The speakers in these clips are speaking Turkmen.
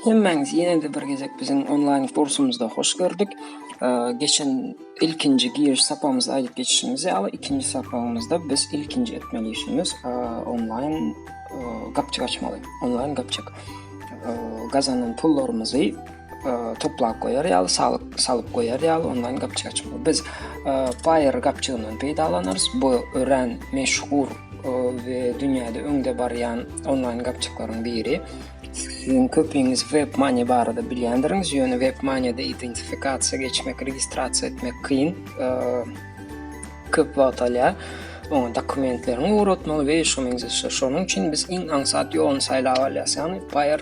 Hemmäňizi ýene-de bir gezek biziň onlaýn kursumyzda hoş gördük. Geçen ilkinji giriş sapamyzda aýdyp geçişimiz ýaly, ikinji sapamyzda biz ilkinji etmeli işimiz onlaýn gapjyk açmaly. Onlaýn gapjyk. Gazanan pullarymyzy toplap goýar ýaly salyp salyp goýar ýaly onlaýn gapjyk açmak biz paýer gapjygyndan peýdalanarys bu örän meşhur we dünýäde öňde barýan onlaýn gapjyklaryň biri Sizin köpüňiz WebMoney barada bilýändirňiz, ýöne WebMoney-de identifikasiýa geçmek, registrasiýa etmek kyn, e, köp wagt alýar. Oňa dokumentleriňi ugratmaly we şonuň üçin biz iň aňsat ýoluny saýlap alýarys. Ýagny Payer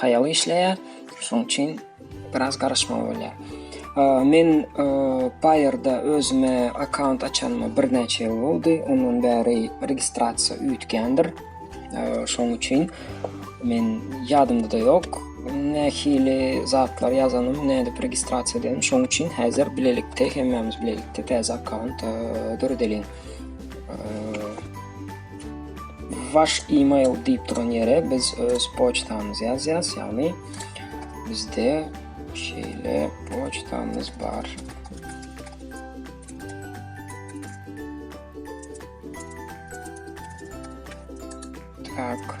haýaly işleýär. Şonuň üçin biraz garaşmaly bolýar. Men Paýerda özüme akkaunt açanyma birnäçe ýyl boldy. Ondan bäri registrasiýa üýtgändir. Şonuň üçin men ýadymda-da ýok. Nähili zatlar ýazanym, nädip registrasiýa edýänim. Şonuň üçin häzir bilelikde, hemmämiz bilelikde täze akkaunt döredeliň. Wash email diýip duran ýere biz öz poçtamyzy ýazýas, ýagny bizde şeýle poçtamyz bar. Tak.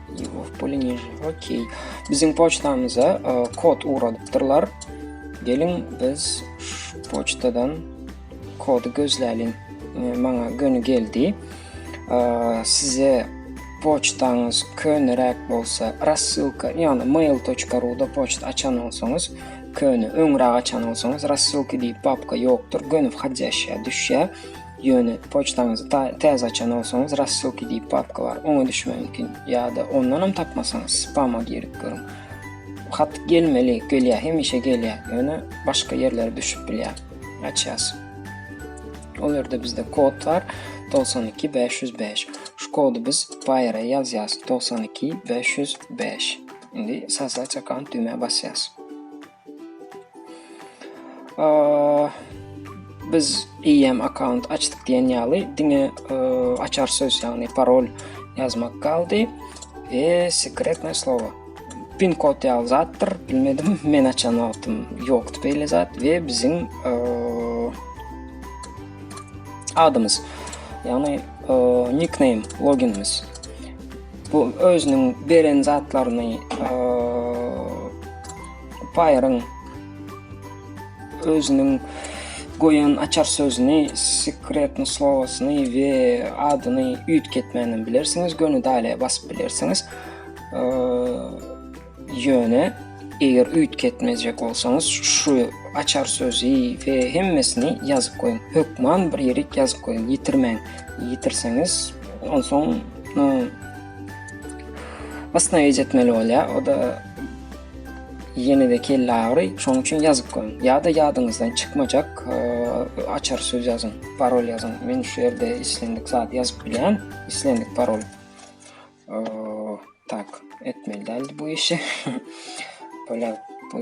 Okey. Biziň poçtamyza e, kod ugradypdyrlar. Geliň biz şu poçtadan kody gözläliň. E, maňa göni geldi. E, size poçtaňyz köneräk bolsa, rassylka, ýagny mail.ru-da poçt açan bolsaňyz, köne öňräk açan bolsaňyz, rassylka diýip papka ýokdur, göni whodящая düşýär. Ýöne poçtaňyzy täze açan bolsaňyz Rassylky diýip papka bar, oňa düşmegi mümkin. Ýa-da ondanam tapmasaňyz spama girip görüň. Hat gelmeli, gelýär, hemişe gelýär, ýöne başga ýerlere düşüp bilýär. Açýas. Ol ýerde bizde kod bar 92 505. Şu kody biz Paýera ýazýas 92 505. Indi sazlać akant düwmä basýas. Biz IM account açdyk diýen ýaly diňe e, açar söz ýagny parol ýazmak galdy we sekretnoý slowo. Pin kod ýaly zatdyr, bilmedim. Men açan wagtym ýokdy beýle zat we biziň e, adymyz ýagny e, nickname loginimiz. Bu özüniň beren zatlaryny Paýaryň özüniň goýan açar sözüni, sekretni slowasyny we adyny üýtgetmänden bilersiňiz, göni daýlaýa basyp bilersiňiz. Ýöne eger üýtgetmejek bolsaňyz, şu açar sözü we hemmesini ýazyp goýuň. Hökman bir ýerik ýazyp goýuň, ýitirmäň. Ýitirseňiz, onsoň Basna ejetmeli bolýar. O da Ýene-de kelle agyry, şonuň üçin ýazyp goýuň. Ýa-da ýadyňyzdan çykmajak açar söz ýazyň, parol ýazyň. Men şu ýerde islendik zat ýazyp bilýän, islendik parol. Tak, etmeli däldi bu işi. Böyle bu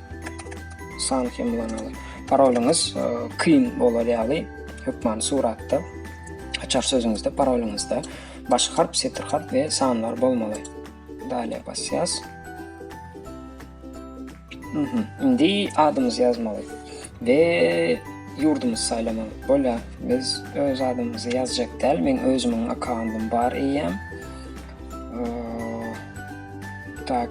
San hem ulanaly. Parolyňyz e, kyn bolar ýaly hökmany suratda açar sözüňizde parolyňyzda baş harp, setir harp we sanlar bolmaly. Dale basýas. Mhm. Indi adymyzy ýazmaly we ýurdumyzy saýlamaly. Bolýa, biz öz adymyzy ýazjak däl. Men özümiň akkauntym bar eýýäm. Tak.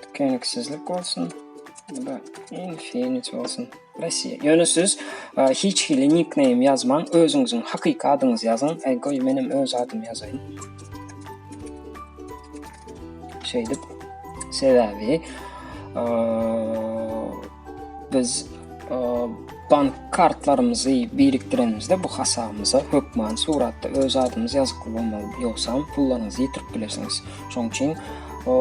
Tükeniksizlik bolsun. Bu da infinite bolsun. Rossiya. Ýöne siz e, hiç hili nickname ýazmaň, özüňiziň hakyky adyňyzy ýazyň. E, goý, menem öz adymy ýazaýyn. Şeýdip, sebäbi e, Biz bank kartlarymyzy birikdiremizde bu hasabymyza hökman suratda öz adymyz ýazykly bolmaly. Ýogsam pullaryňyzy ýitirip bilersiňiz. Şonuň üçin o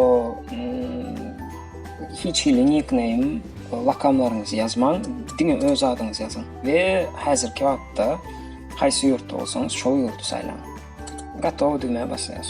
hiç hili nickname lakamlaryňyzy ýazmaň, diňe öz adyňyzy ýazyň we häzirki wagtda haýsy ýurtda bolsaňyz şol ýurdy saýlaň. Gatow düwmä basaýas.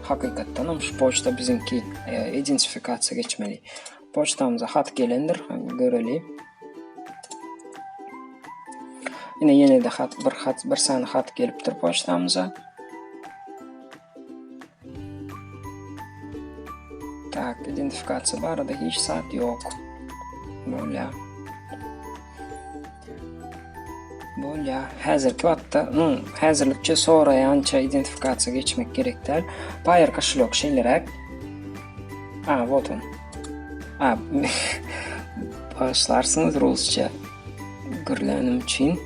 Hakykatdanam şu poçta biziňki identifikasiýa geçmeli. Poçtamyza hat gelendir, göreli. Ine ýene-de hat, bir hat, bir sany hat gelipdir poçtamyza. Tak, identifikasiýa barada hiç zat ýok. Bolýar. Bolýar. Häzirki wagtda iň häzirlikçe soraýança identifikasiýa geçmek gerek däl. Paýer koşelok şeýleräk. A, вот он. A, başlarsyňyz rusça gürlänim üçin.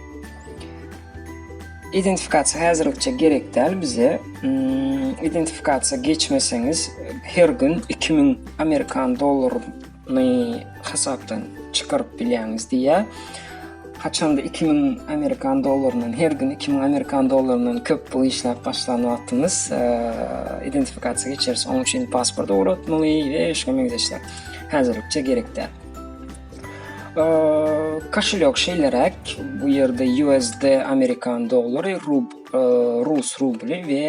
Identifikasiýa häzirlikçe gerek däl bize. Hmm, identifikasiýa geçmeseňiz her gün 2000 amerikan dollary ny hasapdan çykaryp bilýäňiz diýýär. Haçanda 2000 amerikan dollaryndan, her gün 2000 amerikan dollaryndan köp pul işläp başlan wagtymyz e, identifikasiýa geçeris. Onuň üçin pasport ugratmaly we şuňa meňzeşler. Häzirlikçe gerek däl. E, koşulýok şeýleräk, bu ýerde USD amerikan dollary, rub rus rubly we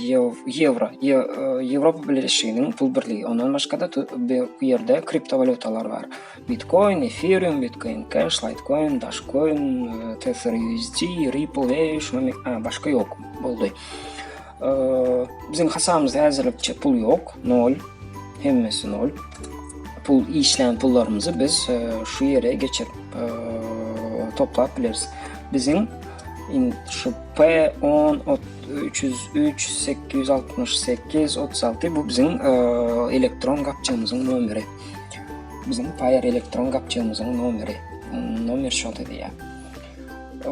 ýewro, Ýewropa Bileleşiginiň pul birligi. Ondan başga-da bu ýerde kriptowalýutalar bar. Bitcoin, Ethereum, Bitcoin Cash, Litecoin, Dogecoin, Tether USD, Ripple we şunuň başga ýok boldy. Bizim hasabımızda hazırlıkça pul yok. Nol. Hemmesi nol. Pul işlem pullarımızı biz e, şu yere geçip e, toplap biliriz. Bizim in, şu P10 303 868 36 bu bizim e, elektron kapçamızın nomeri. Bizim Fire elektron kapçamızın nomeri. Nomer şol dedi ya. E,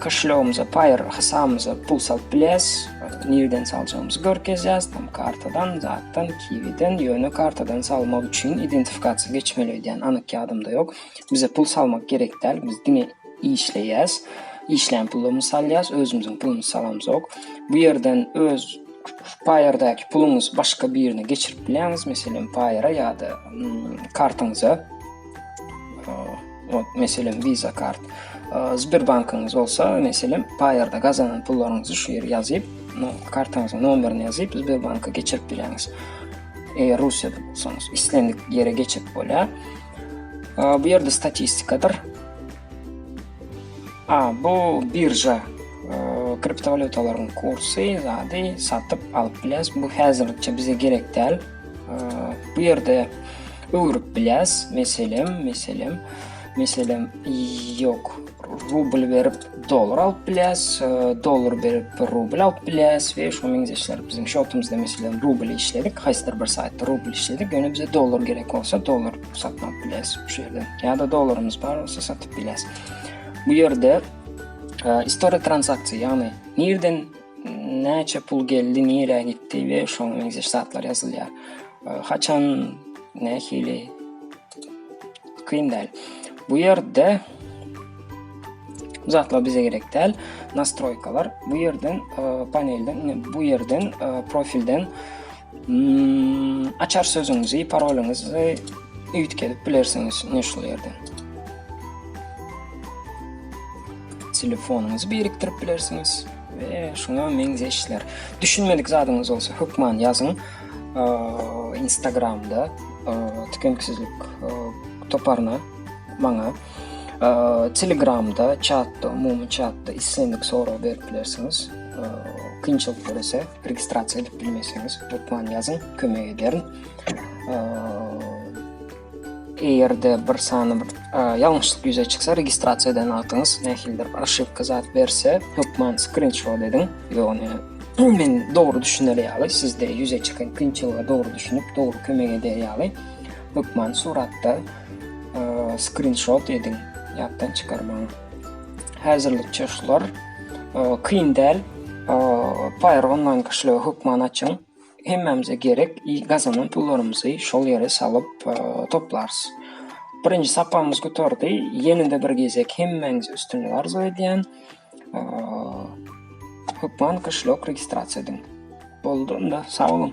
Koşelogymyza paýr hasabymyza pul salyp bilýäs. Nireden saljagymyzy görkezýäs. Tam kartadan, zatdan, kiwiden, ýöne kartadan salmak üçin identifikasiýa geçmeli öýdýän anyk ýadymda ýok. Bize pul salmak gerek däl. Biz diňe işleýäs. Işlän pulumyzy salýas, özümiziň pulumyzy salamzok. Bu ýerden öz paýrdäki puluňyzy başga birine geçirip bilýäňiz, meselem paýra ýa-da kartaňyza. Ot meselem Visa kart. Sberbankyňyz bolsa, meselem, Paýarda gazanan pullaryňyzy şu ýere ýazyp, no, kartaňyzyň nomerini ýazyp, Sberbanka geçirip bileňiz. Eger Russiýada bolsaňyz, islendik ýere geçip bolýar. Bu ýerde statistikadyr. A, bu birja kriptowalyutalaryň kursy, zady satyp alyp biläs. Bu häzirlikçe bize gerek däl. Bu ýerde öwrüp bilýäs. Meselem, meselem, meselem, ýok. Rubl berip dollar alyp bilýäs, dollar berip rubl alyp bilýäs we şu meňzeşler biziň şotumyzda meselem rubl işledik, haýsydyr bir saýtda rubl işledik. Ýöne bize dollar gerek bolsa dollar satyn alyp bilýäs şu ýerde. Ýa-da dollarymyz bar bolsa satyp bilýäs. Bu ýerde e, istoria transaksiýa, ýagny nirden Näçe pul geldi, nirä gitdi we şoňa meňzeş zatlar ýazylýar. Haçan, nähili kyn däl. Bu ýerde zatlar bize gerek däl. Nastroýkalar bu ýerden panelden, bu ýerden profilden Açar sözüňizi, parolüňizi üýtgedip bilersiňiz ine şu ýerden. Telefonyňyzy birikdirip bilersiňiz we şuňa meňzeşler. Düşünmedik zadyňyz bolsa hökman ýazyň. Instagramda tükenksizlik toparyna maňa Telegramda, çatda, umumy çatda islendik sorag berip bilersiňiz. Kynçylyk görese. registrasiýa edip bilmeseňiz, hökman ýazyň, kömek ederin. Eger-de bir sany bir ýalňyşlyk ýüze çyksa, registrasiýa eden wagtyňyz nähilidir bir aşypka zat berse, hökman skrinşot ediň. Ýogny men dogry düşüner ýaly, sizde ýüze çykan kynçylyga dogry düşünip, dogry kömek eder ýaly, hökman suratda skrinşot ediň, ýatdan çykarmaň. Häzirlikçe şular. Kyn däl. Pyro onlaýn köşege hökman açyň. Hemmämize gerek gazanan pullarymyzy şol ýere salyp toplarys. Birinji sapamyz gutardy. Ýene-de bir gezek hemmäňize üstünlik arzuw edýän. Hökman köşek registrasiýa ediň. Boldy onda. Sag boluň.